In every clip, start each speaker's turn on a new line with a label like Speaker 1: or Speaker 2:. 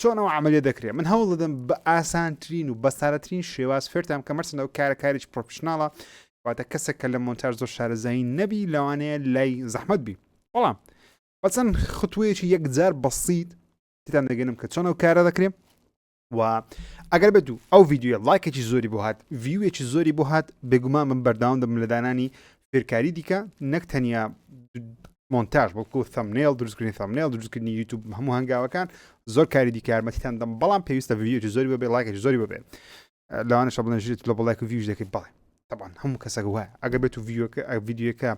Speaker 1: چۆن ئەو عەمەلیە دەکرێت من هەوڵ دەدەم بە ئاسانترین و بەسارەترین شێواز فێرتان کە مەرسن ئەو کارە کارێکی پرۆفشنناڵە واتە کەسێک کە لە مۆنتاژ زۆر شارەزایی نەبی لەوانەیە لای زەحمت بی بەڵام بەچەند خطوەیەکی یەکجار بەسییت تیتان دەگەنم کە چۆن ئەو کارە دەکرێت و ئەگەر بێت و ئەو یددیوە لایکێکی زۆری بۆ هاات ویوێکی زۆری بۆ هاات بێگومان من بەرداوام دەم لە دانانی فێرکاری دیکە نەک تەنیا مۆنتاژ بەڵکو ثەمنێڵ دروستکردنی ثەمنێڵ دروستکردنی یوتوب هەموو هەنگاوەکان زۆر کاری دیکارمەتیتان دەم بەڵام پێویستە ڤیدیۆی زۆری بەبێ ڵاکێک زۆری بەبێ لەوانە شە بڵێن ژێت لە بڵێک ویژ دەکەیت بەڵێ تەبان هەموو کەسەکە وایە ئەگە بێت و ڤیۆکە ڤیددیوەکە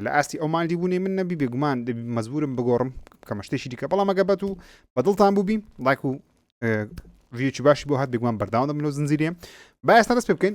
Speaker 1: لە ئاستی ئەو مالی بوونی من نەبی بێگومان مەزبورم بگۆڕم کە مەشتێکی دیکە بەڵام ئەگە بەت و بەدڵتان بووبی ڵاک و ڤیوچی باشی بۆ هات بێگومان بەرداوام لەو زنجیرێ با ئێستا دەست پێ بکەین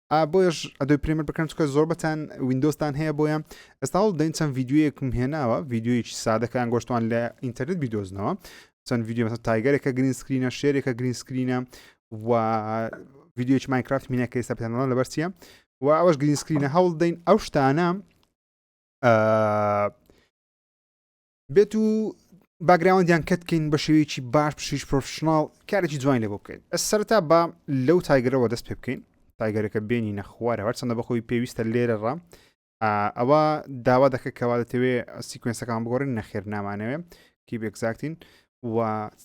Speaker 1: بۆیش ئەدۆی پرێمەر بکەن چکە زۆربەتان وینندۆستان هەیە بۆیە ئێستا هەڵ دەین چەند یددیوەکم هێناوە یددیویکی سادەکان گۆشتوان لە ئینتەرنت بیدۆزنەوە چەند یددیو تایگەرێکە گرین سکرینە شێرێکە گرین سکرینە و یددیوکی ماینکرافت مینەکە ئێستا پێنەوە لەبەر چیە و ئەوەش گرین سکرینە هەوڵ دەین ئەو شتانە بێت و باگراوەندیان کەت کەین بە شێوەیەکی باش پشیش پرۆفشنناڵ کارێکی جوانی لێ بۆ بکەین ئە سەرتا با لەو تایگەرەوە دەست پێ بکەین تایگەرەکە بێنی نەخوارە هەرچەندە بەخۆی پێویستە لێرە ڕە ئەوە داوا دەکە کەوا دەتەوێ سیکوێنسەکان بگۆڕین نەخێر نامانەوێ کی بێکزاکتین و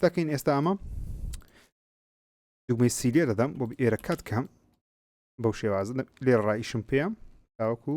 Speaker 1: دەکەین ئێستا ئەمە دوگمەی سیلێ دەدەم بۆ ئێرە کات کەم بەو شێوازە لێ ڕایشم پێم تاوەکو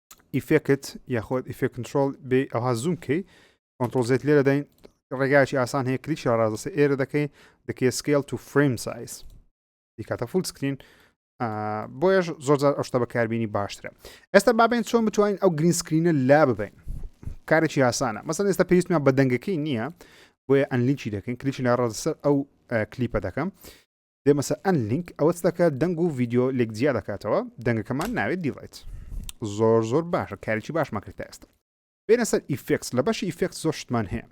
Speaker 1: ئیفێکت یاخۆت ئیفێک کنترۆل بێ ئەوها زووم کەی کۆنتترۆل زێت لێرە دەین ڕێگایکی ئاسان هەیە کلیکی ڕاستە ئێرە دەکەی دەکەی سکیل تو فریم سایز دیکاتە فول سکرین بۆیش زۆرجار ئەوشتە بەکاربیینی باشترە ئێستا بابێن چۆن بتوانین ئەو گرین سکرینە لا ببین کارێکی یاسانە مەسەن ئێستا پێویستمان بە دەنگەکەی نییە بۆیە ئەنلیکی دەکەین کلیکی لە ڕاستەر ئەو کلیپە دەکەم دێمە سەر ئەن لینک ئەوە دەکە دەنگ و ڤیددیو لێک جیا دەکاتەوە دەنگەکەمان ناوێت دیڵیت زۆر زۆر باشە کارێکی باش مەکرێت تا ئێستا بێنە سەر ئیفکس لە بەشی ئیفکس زۆر شتمان هەیە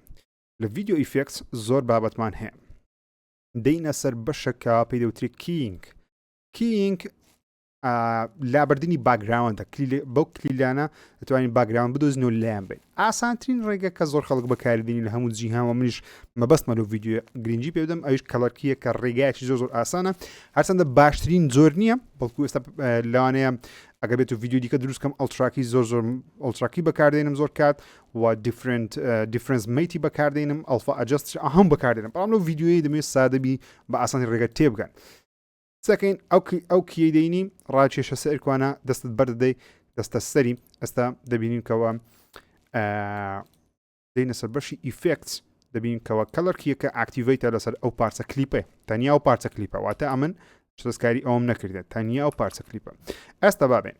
Speaker 1: لە ڤیددیو ئیفکس زۆر بابەتمان هەیە دەینە سەر بەشەکە پێی دەوتری کینگ کینگ لابردننی باگراوندە بەو کلیلانە دەتوانین باگراوند بدۆزن و لایەن بێت ئاسانترین ڕێگە کە زۆر خەڵک بەکاردێنین لە هەموو جیهانەوە منیش مەبەستمە لە ڤیددیو گرنگجی پێدەم ئەوش کەڵەرکیە کە ڕێگایکی زۆر زۆر ئاسانە هەرچەندە باشترین زۆر نییە بەڵکو ئێستا لەوانەیە ئەگە بێت و ڤیددیو دیکە دروستکەم ئەلتراکی زۆر زۆر ئەلتراکی بەکاردێنم زۆر کات و دیفرنت دیفرنس میتی بەکاردێنم ئەلفا ئەجست هەم بەکاردێنم بەڵام لەو ڤیددیوی دەمێت سادەبی بە ئاسانی ڕێگە تێبگەن قسەکەین ئەو ئەو کیەی دەینی ڕاکێشە سەر کوانە دەستت بەردەدەی دەستە سەری ئێستا دەبینین کەەوە دەینە سەر بەشی ئیفکت دەبین کەەوە کەڵەرکیەکە ئاکتیڤیتە لەسەر ئەو پارچە کلیپە تەنیا و پارچە کلیپە واتە ئەمن شتەسکاری ئەوم نەکردێت تەنیا و پارچە کلیپە ئەستا بابێن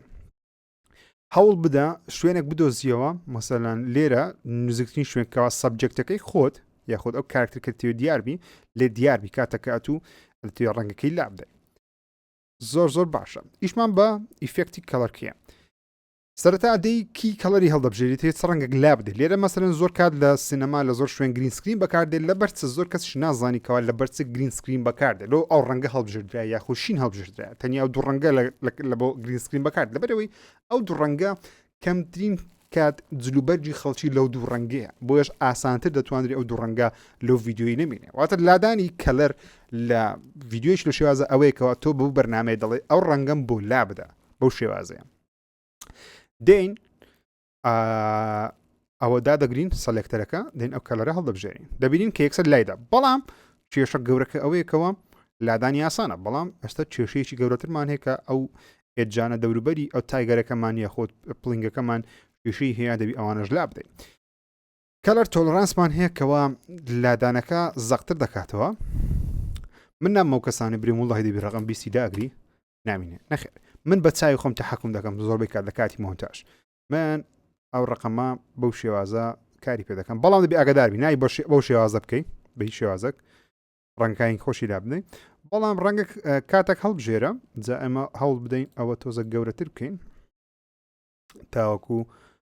Speaker 1: هەوڵ بدە شوێنێک بدۆزیەوە مەسەلەن لێرە نزیکترین شوێنکەوە سەبجەکتەکەی خۆت یاخود ئەو کارکتەکەتیو دیاربی لێ دیاربی کاتەکات و توێ ڕەنگەکەی لابدەی زۆر زۆر باشە ئیشمان بە ئیفێکتی کەڵەرکیە سەرەتا دەی کی کەڵری هەڵدەبژێری تێ ڕەنگەک لا بدەێت لێرە مەسەرن زۆر کات لە سینەما لە زۆر شوێن گرین سکرین بەکاردێت لە بەرچ زۆر کەس نازانانی کەوا لە بەرچ گرین سکرین بەکاردێت لۆ ئەو ڕەنگە هەڵبژێردرا یاخوشین هەڵبژێردرا تەنیا ئەو دوو ڕەنگە لە بۆ گرین سکرین بەکات لەبەرەوەی ئەو دوو ڕەنگە کەمترین کات جلوبەرجی خەڵکی لەو دوو ڕەنگەیە بۆیش ئاسانتر دەتوانری ئەو دوو ڕەنگە لەو ڤیددیوی نمینێ واتە لادانی کەلەر لە ڤیددیوش لە شێوازە ئەوەیەکەوە تۆ بەو بەرنمەیە دەڵێ ئەو ڕەنگەم بۆ لا بدە بەو شێوازەیە دین ئەوە دادەگرین سەلێکتەرەکە دێن ئەو کەلەرە هەڵدەبژێرین دەبینین کە یەکسەر لایدا بەڵام کێشە گەورەکە ئەوەیەکەوە لادانی یاسانە بەڵام ئێستا کێشەیەکی گەورەترمان هەیە کە ئەو ئێجانە دەوروبەری ئەو تایگەرەکەمان یاخۆت پلنگەکەمان کێشەی هەیە دەبی ئەوانەش لا بدەین کەلەر تۆلرانسمان هەیە کەوا لادانەکە زەقتر دەکاتەوە من نام ئەو کەسانی بریم وڵی دەبی ڕقم بیستی داگری نامینێ نەخێ من بە چاوی خۆم تحکم دەکەم زۆربەی کات لە کاتی مۆنتاش من ئەو ڕقەمە بەو شێوازە کاری پێ دەکەم بەڵام دەبی ئەگەداربی نای بەو شێوازە بکەیت بە شێوازەک ڕەنگکانی خۆشی لا بدەین بەڵام ڕەنگە کاتێک هەڵبژێرە جا ئەمە هەوڵ بدەین ئەوە تۆزە گەورەتر بکەین تاوەکو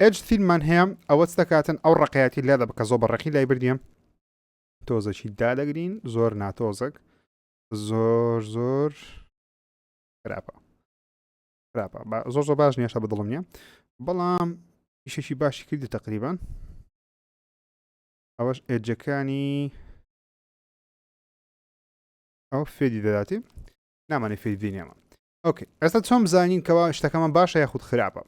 Speaker 1: ئێج تین من هەیە ئەوە دەکاتن ئەو ڕقیاتی لێ دە بکە زۆ بە ڕقی لای بردیم تۆزەکی دادەگرین زۆر ناتۆزەک زۆر زۆر خراپە خراپە زۆر زۆر باش نیشە بە دڵم نیە بەڵام ئیشێکی باشی کردی تقریبان ئەوەش ئێجەکانی ئەو فێدی دەداتی نامانی فێدی نێمە ئۆکەی ئێستا چۆن بزانین کەوا شتەکەمان باشە یاخود خراپە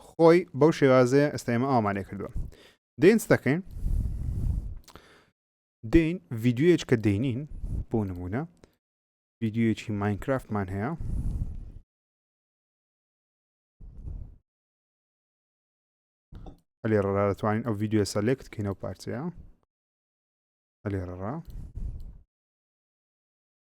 Speaker 1: خۆی بەو شێوازەیە ئێستا ئێمە ئامانێ کردووە دێنس دەکەین دین ویددیوەیەک کە دێنین بۆ نمونە ویددیوەکی ماینکرافتمان هەیە ئەلێ ڕێرا دەتوانین ئەو ویددیوە سەلێک بکەینەوە پارچەیە ئەلێ ڕێرا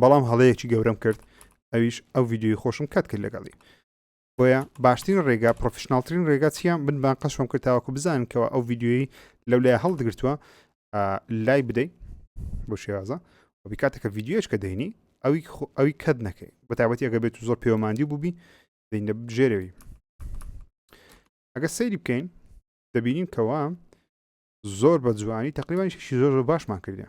Speaker 1: بەڵام هەڵەیەکی گەورەم کرد ئەویش ئەو ویددیوی خۆشم کات کرد لەگەڵی بۆیە باشترین ڕێگا پرۆفشنناڵترین ڕێگا چیە من بان قەشم کرد تاوەکو بزانن کەەوە ئەو ویددیوی لەو لای هەڵدگرتووە لای بدەیت بۆ شێوازە بکاتەکە ویددیوش کە دەینی ئەوی ئەوی کەت نەکەی بە تابەتی ئەگە بێت و زۆر پێوەماندی بووبی دەینە بژێرەوەی ئەگە سەیری بکەین دەبینین کەوا زۆر بە جوانی تقریبانی شی زۆر زۆر باشمان کردە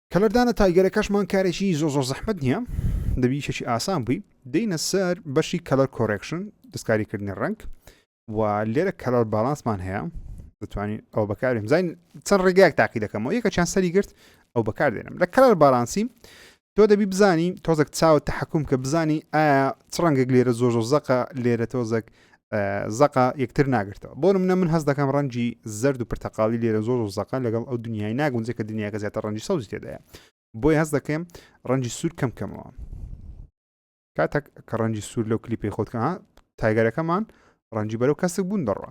Speaker 1: کەلەردانە تایگەرەکەشمان کارێکی زۆر زۆر زەحمەت نییە دەبی یشێکی ئاسان بووی دێینە سەر بەشی کەلەر کۆرێکشن دەستکاریکردنی ڕنگ و لێرە کەلەر باڵانسمان هەیە دەتوانین ئەو بەکارێن زین چەند ڕێگایك تاقی دەکەمەوە یەکە چیان سەری گرت ئەو بەکار دێنم لە کەلەر باڵانسی تۆ دەبی بزانی تۆزێک چاوە تحکم کە بزانی ئایا چ ڕەنگێک لێرە زۆر زۆر زەقە لێرە تۆزێک زەقە یەکتر ناگرتەوە بۆ منە من هەست دەکەم ڕەنجی زرد و پرتەقالی لێرە زۆر و زەقە لەگەڵ ئەو دنیای ناگونجێ کە دنیاکە زیاتر ڕەنجی سەوزی تێدایە بۆی هەست دەکەم ڕەنجی سوور کەم کەمەوە کاتێک کە ڕەنجی سوور لەو کلیپی خۆتکە تایگەرەکەمان ڕەنجی بەرەو کەسک بوون دەڕوە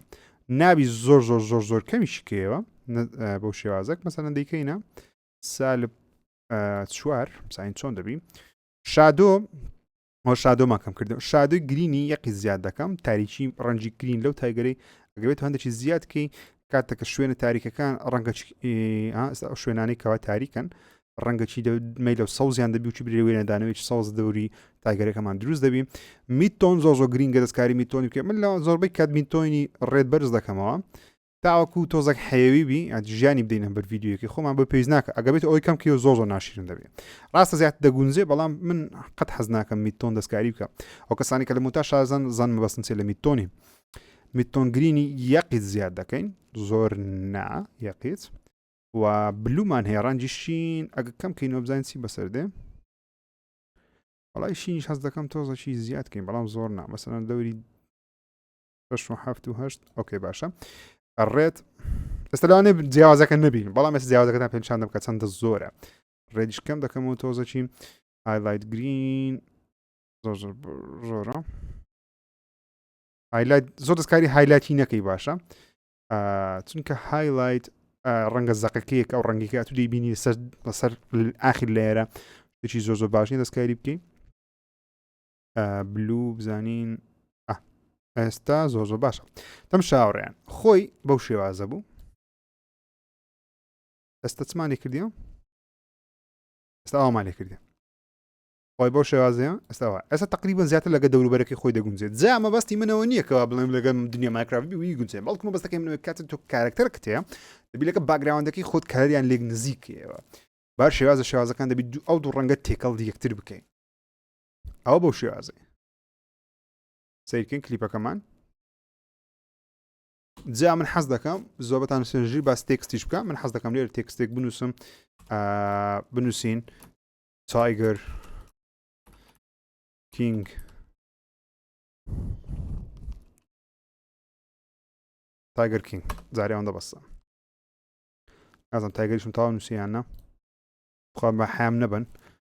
Speaker 1: نابی زۆر زۆر زۆر زۆر کەمیشی کێوە بەو شێوازەک مەسەن دیکەینە سالب چوار ساین چۆن دەبی شادۆ هۆ شادۆ ماکەم کردم شادوی گرینی یەقی زیاد دەکەم تاریکی ڕەنجی گرین لەو تایگەری ئەگەێت هەندێکی زیادکەی کاتەکە شوێنە تاریکەکان ڕەنگە شوێنانی کەوا تاریکن ڕەنگەچی دەمەی لەو سەوزیان دەبیوچی برێ وێنەدانەوەی سەوز دەوری تاگەرەکەمان دروست دەبی میتۆن زۆ زۆ گرینگە دەستکاری میتۆنی بکە من لە زۆربەی کات میتۆنی ڕێت بەرز دەکەمەوە تاوەکو تۆزەک حەیەوی بی ئەت ژیانی بدەینە بەر ڤیددیوەکەی خۆمان بە پێویست ناکە ئەگە بێت ئەوەی کەم کە زۆ زۆ ناشرن دەبێت ڕاستە زیات دەگونجێ بەڵام من قەت حەز ناکەم میتۆن دەستکاری بکە ئەو کەسانی کە لە موتا شازن زان مەبەستن چێ لە میتۆنی میتۆن گرینی یەقیت زیاد دەکەین زۆر نا یەقیت و بلومان هەیە ڕەنجی شین ئەگە کەم کەینەوە بزانین چی بەسەر دێ وڵای شینیش هەز دەکەم تۆزەکی زیاد کەین بەڵام زۆر نا مەسەن دەوری ئۆکەی باشە ڕێت ئێستا لەوانێ جیاوازەکە نبین بەڵام ئێس جیاوازەکەتان پێنجشان دەکە چەندە زۆرە ڕێجکەم دەکەم و تۆزەچین هایلایت گرین زۆرە هایلایت زۆر دەستکاری هایلایتی نەکەی باشە چونکە هایلایت ڕەنگە زەقەکەیەک ئەو ڕەنگیکە تو دەیبینی سەر لەسەر ئاخیر لێرە هیچی زۆر زۆر باشنی دەستکاری بکەین بلو بزانین ئێستا زۆ زۆ باشە تەم شاوڕێن خۆی بەو شێوازە بوو ئێستا چمانی کردی ئێستا ئەومان لێ کردی خۆی بەو شێوازەیە ئێستاوە ئێستا تقریبان زیاتر لەگە دەوروبەرەکەی خۆی دەگونجێت جا مەبەستی منەوە نییەکەوە بڵێم لەگە دنیا مایکراوی وی گونجێ بەڵکو مەبەستەکەی منەوە کاتە تۆ کارکتەر کتێ دەبیلەکە باگراوندەکەی خۆت کاریان لێک نزیکەوە بار شێوازە شێوازەکان دەبیت ئەو دوو ڕەنگە تێکەڵ یەکتر بکەین ئەوە بەو شێوازێ سیرکن کلیپەکەمان جا من حەز دەکەم زۆبەتان سێژی باس تێکستیش بکە من حەز دەکەم لێر تێکستێک بنووسم بنووسین تایگەر کینگ تایگەر کینگ جاریان دەبەستە ئازم تایگەریشم تاوا نووسیانە خۆ بە حام نەبن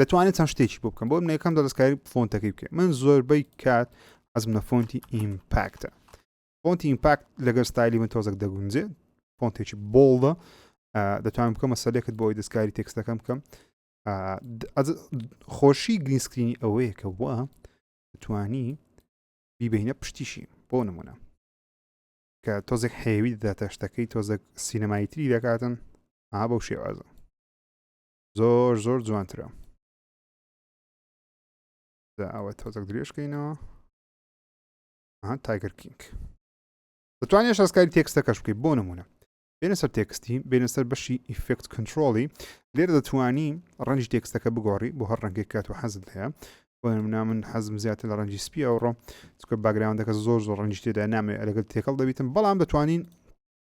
Speaker 1: دەتوانێت چەند شتێکی بۆ بکەم بۆ من یەکەم دەستکاری فۆنتەکەی بکە من زۆربەی کات حەزم لە فۆنتی ئیمپاکتە فۆنتی ئیمپاکت لەگەر ستایلی من تۆزەک دەگونجێ فۆنتێکی بۆڵدە دەتوانم بکەم مەسەلێکت بۆی دەستکاری تێکستەکەم بکەم خۆشی گرینسکرینی ئەوەیە کە وە توانی بیبینە پشتیشی بۆ نمونە کە تۆزێک حێوی دەداتە شتەکەی تۆزەک سینەمایتری دەکاتن ئا بەو شێوازە زۆر زۆر جوانترە دا ئەوە تۆزەک درێژکەینەوە ها تایگەر کینگ دەتوانێت شەسکاری تێکستەکەش بکەیت بۆ نمونە بێنە سەر تێکستی بێنە سەر بەشی ئیفکت کنترۆڵی لێر دەتوانی ڕەنجی تێکستەکە بگۆڕی بۆ هەر ڕەنگێک کات و حەزت هەیە بۆ نمنا من حەزم زیاتر لە ڕەنجی سپی ئەوڕۆ چکە باگراوندەکە زۆر زۆر ڕەنجی تێدا نامێ لەگەل تێکەڵ دەبیتم بەڵام دەتوانین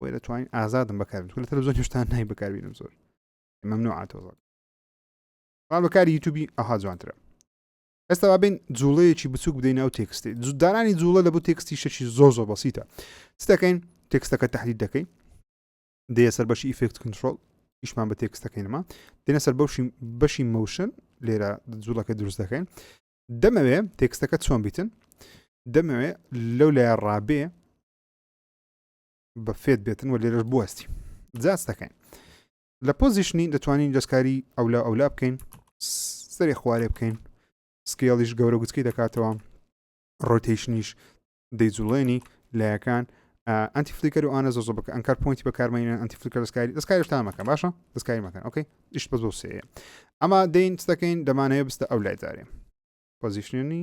Speaker 1: بۆی دەتوانین ئازادم بەکاربن لە تەلەزۆن هێشتا نای بەکاربینم زۆر ممنوع تۆزان بەڵام بەکاری یوتوبی ئەها جوانترە ئێستا بابین جوڵەیەکی بچوک بدەین ناو تێکستی جوددارانی جوڵە لە بۆ تێکستی شەشی زۆر زۆر بەسیتە چ دەکەین تێکستەکە تحلیل دەکەین دێ سەر بەشی ئیفکت کنترۆل ئیشمان بە تێکستەکەینەما دێنە سەر بەشی بەشی مەوشن لێرە جوڵەکە دروست دەکەین دەمەوێ تێکستەکە چۆن بیتن دەمەوێ لەو لای ڕابێ بە فێت بێتن و لێرەش بوەستی جااز دەکەین لە پۆزیشنی دەتوانین دەستکاری ئەولا ئەولا بکەین سەری خوارێ بکەین سکیڵیش گەورە گوتکی دەکاتەوە ڕۆتیشنیش دەیجوڵێنی لایەکان ئەنتی فلیکەر و ئاە زۆ بکە ئەنکار پوینتی بەکارمەینە ئەنتی فلیکەر دەستکاری دەستکاریش تا مەکە باشە دەستکاری مەکەن ئۆکەی ئیش بە زۆ سەیە ئەما دەین دەکەین دەمانەیە بستە ئەو لای دارێ پۆزیشنی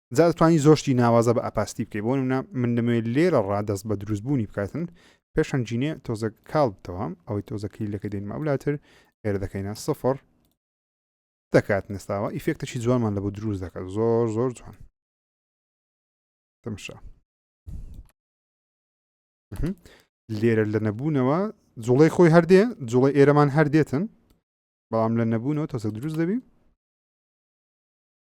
Speaker 1: جا دەتوانانی زۆر شتی ناوازە بە ئەپاستی بکەی بۆ نمونە من دەمەوێت لێرە ڕا دەست بە دروستبوونی بکاتن پێشەن جینێ تۆزە کاڵ بتەوە ئەوەی تۆزە کلیلەکە دێنمە ئەولاتر ئێرە دەکەینە سفر دەکات نستاوە ئیفێکتەکی جوانمان لە بۆ دروست دەکات زۆر زۆر جوان تەمشا لێرە لە نەبوونەوە جوڵی خۆی هەردێ جوڵی ئێرەمان هەردێتن بەڵام لە نەبوونەوە تۆزە دروست دەبی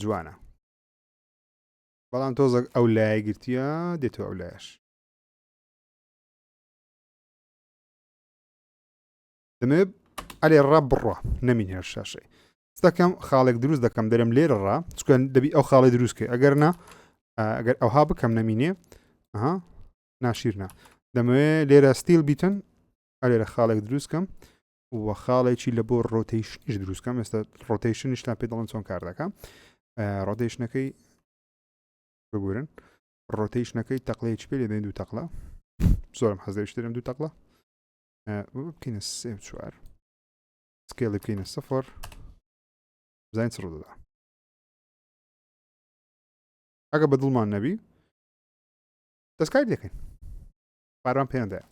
Speaker 1: جوانە بەڵام تۆزەک ئەو لایە گرتیە دێتەوە ئەو لایش دەمێ ئەلێ ڕە بڕە نەمین هێر شاشەی دەکەم خاڵێک دروست دەکەم دەرم لێرە ڕا چکەن دەبی ئەو خاڵی دروستکە ئەگەر نا ئەگەر ئەوها بکەم نەمینێ ئەها ناشیرنا دەمەوێ لێرە ستیل بیتن ئەلێرە خاڵێک دروستکەم و خاڵێکی لە بۆ ڕۆتەیشنیش دروستکەم ئێستا ڕۆتەیشنیشتان پێ دەڵم چۆن کار دەکەم ڕۆتەیشنەکەی ببورن ڕۆتەیشنەکەی تەقلەیەکی پێ لێدەین دوو تەقلا زۆرم حەزێشترم دوو تەقلا بکەینە سێ چوار سکێڵی بکەینە سەفەر زین چڕ دەدا ئەگە بە دڵمان نەبی دەستکاری دەکەین پاران پێیاندایە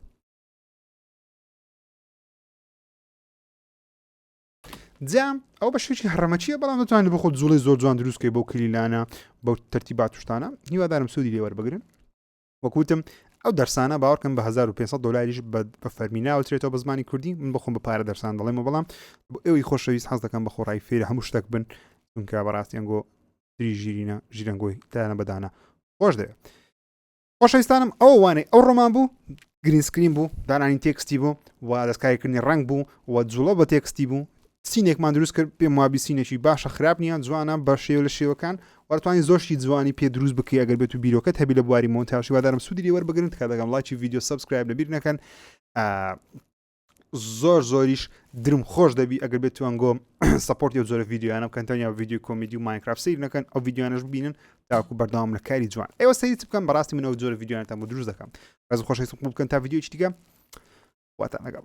Speaker 1: جام ئەو بە شوێکی هەڕەمەچیە بەڵام دەتوانێت بخۆ جوڵی زۆر جوان دروستکەی بۆ کلیلانە بەو تەرتی باتوشتانە هیوادارم سوودی لێوەەر بگرن وەکوتم ئەو دەرسانە باوەکەم بە 1500 دلاریش بە فەرمی ناوترێتەوە بە زمانی کوردی من بخۆم بە پارە دەرسان دەڵێمە بەڵام بۆ ئەوی خۆشەویست حەز دەکەم بە خۆڕای فێرە هەموو شتێک بن چونکە بەڕاستیان گۆ تری ژیرینە ژیرەنگۆی تایانە بەدانە خۆش دەوێت خۆشەویستانم ئەو وانەی ئەو ڕۆمان بوو گرین سکرین بوو دانانی تێکستی بوو و دەستکاریکردنی ڕنگ بوو و جوڵە بە تێکستی بوو سینێکمان دروست کرد پێم وابی سینێکی باشە خراپ نییە جوانە بە شێو لە شێوەکان وەرتوانی زۆشی جوانی پێ دروست بکەی ئەگەر بێت و بیرۆکەت هەبی لە بواری مۆنتاژی وادارم سوودی لێوەربگرن تکا دەگەم لایکی ویددیو سبسکرایب لەبیر نەکەن زۆر زۆریش درم خۆش دەبی ئەگەر بێت توان گۆم سپۆرت و زۆر ڤیددیوانە بکەن تەنیا ڤیددیو کۆمیدی و ماینکراف سیر نەکەن ئەو ڤیددیوانش ببینن تاکو بەردەوام لە کاری جوان ئێوە سەری بکەم بەڕاستی منەوە زۆر ڤیددیوانتان بۆ دروست دەکەم ڕز خۆش بکەن تا ڤیددیو چیگە واتان لەگەڵ